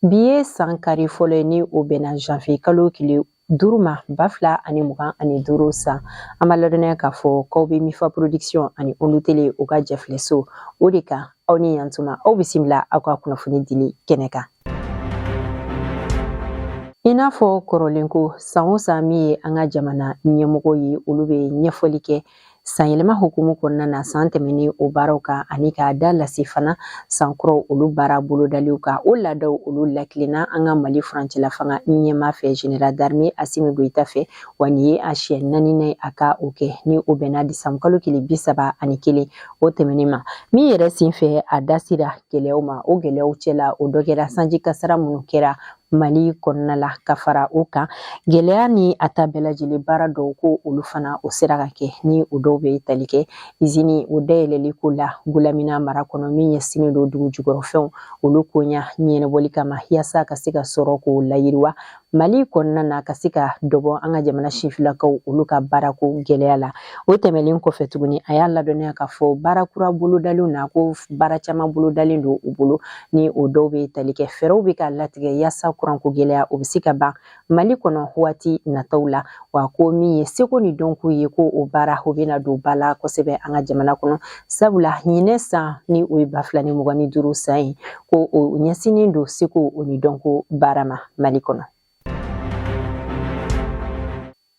Bi ye san kari fɔlɔ ye ni o bɛnna janvier kalo tile duuru ma ba fila ani mugan ani duuru san an b'a ladɔnniya k'a fɔ k'aw bɛ mifa production ani olu tele u ka jɛfileso o de kan aw ni yan tuma aw bisimila aw ka kunnafoni dili kɛnɛ kan i n'a fɔ kɔrɔlen ko san o san min ye an ka jamana ɲɛmɔgɔ ye olu bɛ ɲɛfɔli kɛ San yɛlɛma hukumu kɔnɔna na san tɛmɛnen o baaraw kan ani k'a da lase fana san kuraw olu baara bolodaliw kan o laadaw olu lakilenna an ka mali furancɛla fanga ɲɛmaa fɛ général d'armée Asimi Goyita fɛ wa nin ye a siɲɛ naaninan a ka o kɛ ni o bɛnna décembre kalo kile bi saba ani kelen o tɛmɛnen ma min yɛrɛ sen fɛ a da sera gɛlɛyaw ma o gɛlɛyaw cɛla o dɔ kɛra sanji kasara minnu kɛra Mali kɔnɔna la ka fara o kan gɛlɛya ni a ta bɛɛ lajɛlen baara dɔw ko olu fana o sera ka kɛ ni o dɔw bɛ tali kɛ izini o dayɛlɛli ko la Gulamina mara kɔnɔ min ɲɛsinnen don dugu jukɔrɔfɛnw olu koɲa ɲɛnabɔli kama yaasa ka se ka sɔrɔ k'o layiriwa mali kɔnɔna na ka se ka dɔ bɔ an ka jamana sifinlakaw olu ka baarako gɛlɛya la o tɛmɛlen kɔfɛ tuguni a y'a ladɔnniya k'a fɔ baara kura bolodaliw na ko baara caman bolodalen don u bolo ni o dɔw bɛ tali kɛ fɛɛrɛw bɛ ka latigɛ yaasa kuranko gɛlɛya o bɛ se ka ban mali kɔnɔ waati nataw la wa ko min ye seko ni dɔnko ye ko o baara o bɛna don ba la kosɛbɛ an ka jamana kɔnɔ sabula ɲinɛ san ni o ye ba fila ni mugan ni duuru san ye ko o ɲɛsinnen don seko o ni dɔnko baara ma mali kɔnɔ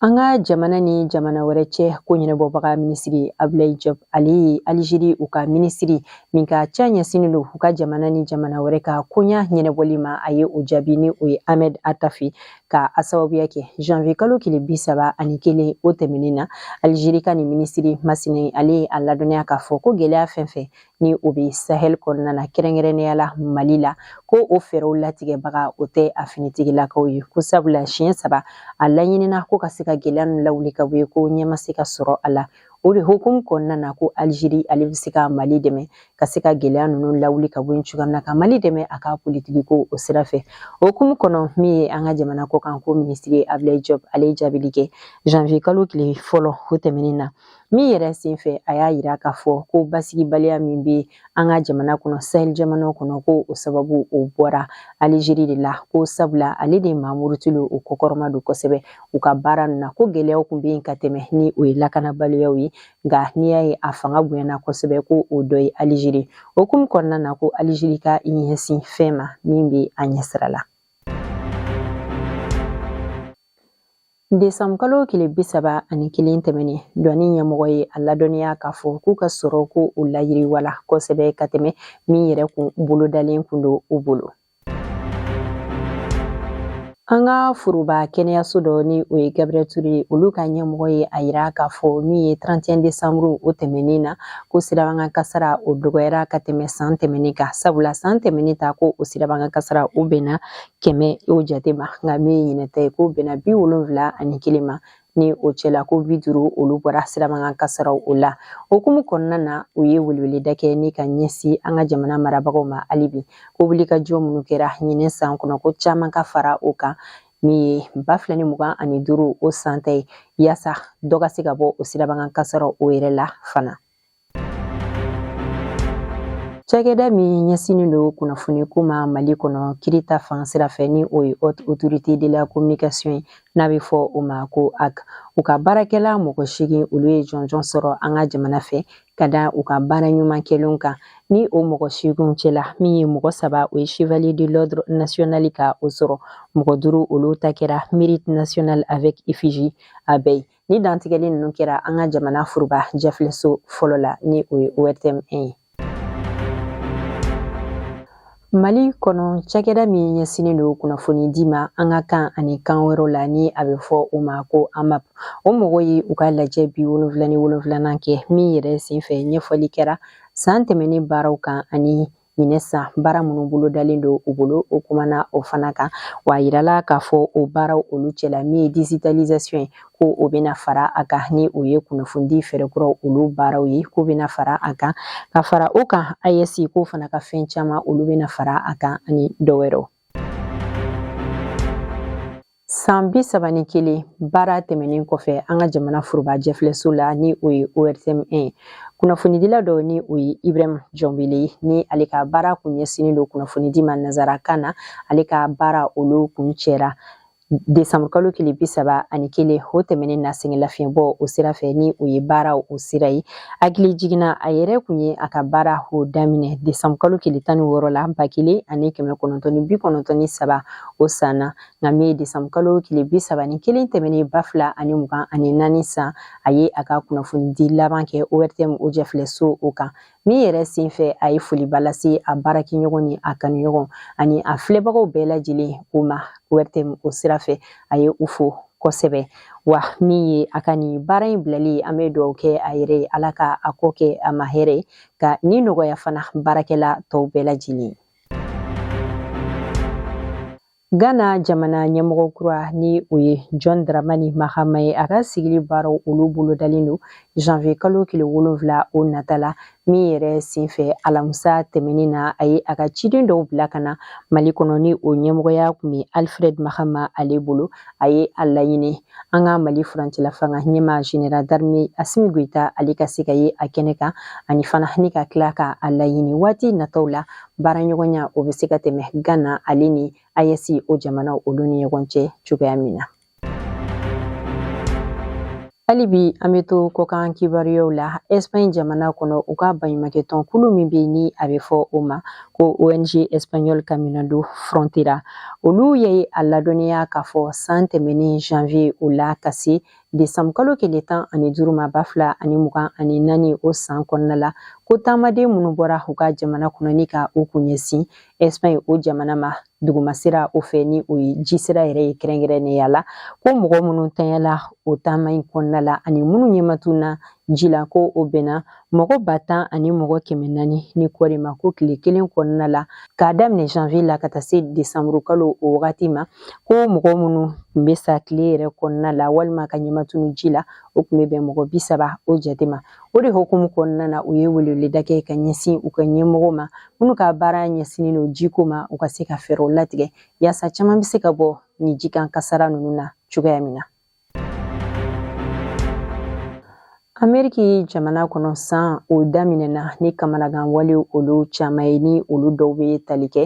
An ka jamana ni jamana wɛrɛ cɛ ko ɲɛnabɔbaga minisiri Abulayi Jɔp ale ye Alizeri u ka minisiri min ka ca ɲɛsinnen don u ka jamana ni jamana wɛrɛ ka koɲa ɲɛnabɔli ma a ye o jaabi ni o ye Ahmed Atafi ka a sababuya kɛ janvier kalo tile bi saba ani kelen o tɛmɛnen na Alizeri ka nin minisiri masina ale ye a ladɔnniya k'a fɔ ko gɛlɛya fɛn fɛn ni o bɛ sahɛli kɔnɔna na kɛrɛnkɛrɛnnenya la mali la ko o fɛɛrɛw latigɛbaga o tɛ a finitigilakaw ye ko sabula siɲɛ saba a laɲinina ko ka se ka gɛlɛya ninnu lawuli ka bɔ yen ko ɲɛ ma se ka sɔrɔ a la o de hukumu kɔnɔna na ko Alizeri ale bɛ se ka mali dɛmɛ ka se ka gɛlɛya ninnu lawuli ka bɔ yen cogoya min na ka mali dɛmɛ a ka politiki ko o sira fɛ o hukumu kɔnɔ min ye an ka jamana kɔkan ko minisiri Abulayi Jɔp ale ye jaabili kɛ janvier kalo tile fɔlɔ o tɛmɛnen na min yɛrɛ senfɛ a y'a yira k'a fɔ ko basigibaliya min bɛ an ka jamana kɔnɔ sahel jamanaw kɔnɔ ko o sababu o bɔra alizeri de la ko sabula ale de maa murutilenw kɔkɔrɔma don kosɛbɛ u ka baara ninnu na ko gɛlɛyaw tun bɛ yen ka tɛmɛ ni o ye lakanabaliyaw ye nka n'i y'a ye a fanga bonyana kosɛbɛ ko o dɔ ye alizeri o hukumu kɔnɔna na ko alizeri ka ɲɛsin fɛn ma min bɛ a ɲɛsira la Desanburu kalo tile bi saba ani kelen tɛmɛnen douane ɲɛmɔgɔ ye a ladɔnniya k'a fɔ k'u ka sɔrɔ ko o layiriwala kosɛbɛ ka tɛmɛ min yɛrɛ kun bolodalen kun don u bolo an ka foroba kɛnɛyaso dɔ ni o ye gabriel ture ye olu ka ɲɛmɔgɔ ye a yira k'a fɔ min ye 31 desanburu o tɛmɛnen na ko sirabakan kasara o dɔgɔyara ka tɛmɛ san tɛmɛnen kan sabula san tɛmɛnen ta ko o sirabakan kasara o bɛnna kɛmɛ o jate ma nka min ye ɲinɛ ta ye ko o bɛnna bi wolonfila ani kelen ma ni o cɛla ko bi duuru olu bɔra sirabakan kasaraw o la o hukumu kɔnɔna na u ye weleweleda kɛ ni ka ɲɛsin an ka jamana marabagaw ma hali bi ko wulikajɔ minnu kɛra ɲinɛ san kɔnɔ ko caaman ka fara o kan min ye ba fila ni mugan ani duuru o san ta ye yaasa dɔ ka se ka bɔ o sirabakan kasaraw o yɛrɛ la fana Cakɛda min ɲɛsinnen don kunnafoni ko ma Mali kɔnɔ kiri ta fan sira fɛ ni o ye Haute Autorité de la Communication ye n'a bɛ fɔ o ma ko HAC. U ka baarakɛla mɔgɔ seegin olu ye jɔnjɔn sɔrɔ an ka jamana fɛ ka da u ka baara ɲuman kɛlenw kan ni o mɔgɔ seeginw cɛla min ye mɔgɔ saba o ye Chevalier de l'Ordre National ka o sɔrɔ mɔgɔ duuru olu ta kɛra Mérite National avec effigie abeille ye Nin dantigɛli ninnu kɛra an ka jamana furuba jɛfilɛso fɔlɔ la ni o ye ORTM 1 ye. Mali kɔnɔ cakɛda min ɲɛsinnen don kunnafoni di ma an ka kan ani kan wɛrɛw la ni a bɛ fɔ o ma ko AMAP. O mɔgɔw ye u ka lajɛ bi wolonfila ni wolonfilanan kɛ min yɛrɛ senfɛ ɲɛfɔli kɛra san tɛmɛnen baaraw kan ani ɲinɛ san baara minnu bolodalen don u bolo u kumana o fana kan wa a yirala k'a fɔ o baaraw olu cɛla min ye digitalisation ye ko o bɛna fara a kan ni o ye kunnafonidi fɛɛrɛkuraw olu baaraw ye ko o bɛna fara a kan ka fara o kan AES k'o fana ka fɛn caman olu bɛna fara a kan ani dɔ wɛrɛw San bi saba ni kelen baara tɛmɛnen kɔfɛ an ka jamana foroba jɛfilɛso la ni o ye ORTM 1 ye kunnafonidila dɔ ni o ye Ibrahim Jɔnbele ye ni ale ka baara kun ɲɛsinnen don kunnafonidi ma nanzarakan na ale ka baara olu kuncɛra Desanburu kalo tile bi saba ani kelen o tɛmɛnen na sɛgɛn lafiɲɛbɔ o sira fɛ ni o ye baara o sira ye hakilijigin na a yɛrɛ kun ye a ka baara o daminɛ desanburu kalo tile tan ni wɔɔrɔ la ba kelen ani kɛmɛ kɔnɔntɔn ni bi kɔnɔntɔn ni saba o san na nka min ye desanburu kalo tile bi saba ni kelen tɛmɛnen ba fila ani mugan ani naani san a ye a ka kunnafonidi laban kɛ ORTM o jɛfilɛ so o kan Min yɛrɛ senfɛ a ye foliba lase a baarakɛɲɔgɔn ni a kanuɲɔgɔn ani a filɛbagaw bɛɛ lajɛlen o ma ORTM o sira fɛ a ye u fo kosɛbɛ wa min ye a ka nin baara in bilali ye an bɛ dugawu kɛ a yɛrɛ ye ala ka a kɔ kɛ a ma hɛrɛ ye ka ni nɔgɔya fana baarakɛla tɔw bɛɛ lajɛlen Ghana jamana ɲɛmɔgɔ kura ni o ye John Dramani Mahama ye a ka sigili baaraw olu bolodalen don janvier kalo tile wolonfila o nata la min yɛrɛ senfɛ alamisa tɛmɛnin na a ye a ka ciden dɔw bila ka na mali kɔnɔ ni o ɲɛmɔgɔya tun bɛ alfred mahama ale bolo a ye a laɲini an ka mali furancɛlafanga ɲɛmaa général d'armée Assimi Goïta ale ka se ka ye a kɛnɛ kan ani fana ni ka tila ka a laɲini waati nataw la baaraɲɔgɔnya o bɛ se ka tɛmɛ Ghana ale ni AES o jamanaw olu ni ɲɔgɔn cɛ cogoya min na hali bi an bɛ to kɔkan kibaruyaw la Espagne jamana kɔnɔ u ka baɲumankɛ tɔnkulu min bɛ ni a bɛ fɔ o ma ko ong espagnol caminando frontera olu ye a ladɔnniya k'a fɔ san tɛmɛnen janvier o la ka se Desanburu kalo tile tan ani duuru ma ba fila ani mugan ani naani o san kɔnɔna la ko taamaden minnu bɔra u ka jamana kɔnɔ ni ka u kun ɲɛsin Espagne o jamana ma duguma sira o fɛ ni o ye ji sira yɛrɛ ye kɛrɛnkɛrɛnnenya la ko mɔgɔ minnu tanyala o taama in kɔnɔna la ani minnu ɲɛmatununna ji la ko o bɛnna mɔgɔ ba tan ani mɔgɔ kɛmɛ naani ni kɔɔri ma ko tile kelen kɔnɔna la k'a daminɛ janvier la ka taa se desanburu kalo o wagati ma ko mɔgɔ minnu tun bɛ sa tile yɛrɛ kɔnɔna la walima ka ɲɛmatunun ji la o tun bɛ bɛn mɔgɔ bi saba o jate ma o de hukumu kɔnɔna na u ye weleweleda kɛ ka ɲɛsin u ka ɲɛmɔgɔ ma minnu ka baara ɲɛsinnen don jiko ma u ka se ka fɛɛrɛw latigɛ yaasa caman bɛ se ka bɔ ni jikan kasara ninnu na cogoya min na Ameriki jamana kɔnɔ san o daminɛna ni kamanagan wale olu caman ye ni olu dɔw bɛ tali kɛ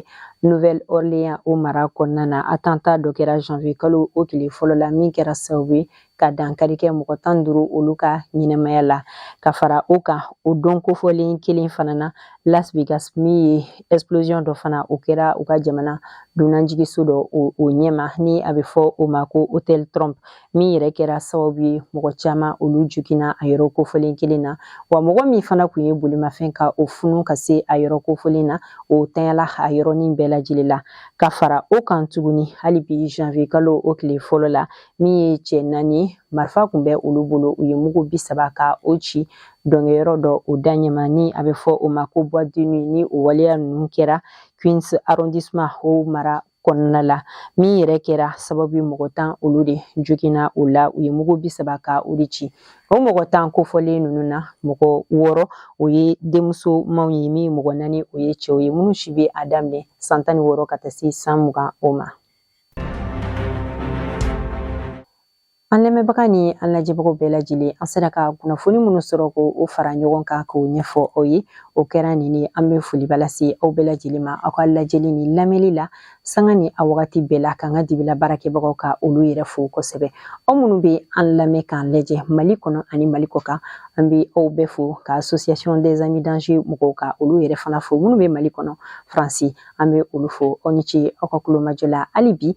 Nouvelle Orléans o mara kɔnɔna na attentat dɔ kɛra janvier kalo o tile fɔlɔ la min kɛra sababu ye ka dankari kɛ mɔgɔ tan duuru olu ka ɲɛnamaya la ka fara o kan o don kofɔlen kelen fana na Las Vegas min ye explosion dɔ fana o kɛra u ka jamana dunanjigiso dɔ o ɲɛma ni a bɛ fɔ o ma ko hotel Trump min yɛrɛ kɛra sababu ye mɔgɔ caman olu joginna a yɔrɔ kofɔlen kelen na wa mɔgɔ min fana kun ye bolimafɛn ka o funu ka se a yɔrɔ kofɔlen na o tanyala a yɔrɔnin bɛɛ lajɛlen la ka fara o kan tuguni hali bi janvier kalo o tile fɔlɔ la min ye cɛ naani marifa kun bɛ olu bolo u ye mugu bi saba ka o ci dɔnkɛyɔrɔ dɔ o da ɲɛma ni a bɛ fɔ o ma ko boîte de nuit ni o waleya ninnu kɛra Queens arrondissement o mara kɔnɔna la min yɛrɛ kɛra sababu ye mɔgɔ tan olu de joginna o la u ye mugu bi saba ka o de ci o mɔgɔ tan kofɔlen ninnu na mɔgɔ wɔɔrɔ o ye denmusomaw ye min mɔgɔ naani o ye cɛw ye minnu si bɛ a daminɛ san tan ni wɔɔrɔ ka taa se san mugan o ma An lamɛnbaga ni an lajɛbagaw bɛɛ lajɛlen an sera ka kunnafoni minnu sɔrɔ k'o fara ɲɔgɔn kan k'o ɲɛfɔ aw ye o kɛra nin ye an bɛ foliba lase aw bɛɛ lajɛlen ma aw ka lajɛli ni lamɛnli la sanga ni a wagati bɛɛ la k'an ka dibila baarakɛbagaw ka olu yɛrɛ fo kosɛbɛ aw minnu bɛ an lamɛn k'an lajɛ mali kɔnɔ ani mali kɔkan an bɛ aw bɛɛ fo ka association des amis d'Angers mɔgɔw ka olu yɛrɛ fana fo minnu bɛ mali kɔnɔ faransi an bɛ olu fo aw ni ce aw ka kulomajɔ la hali bi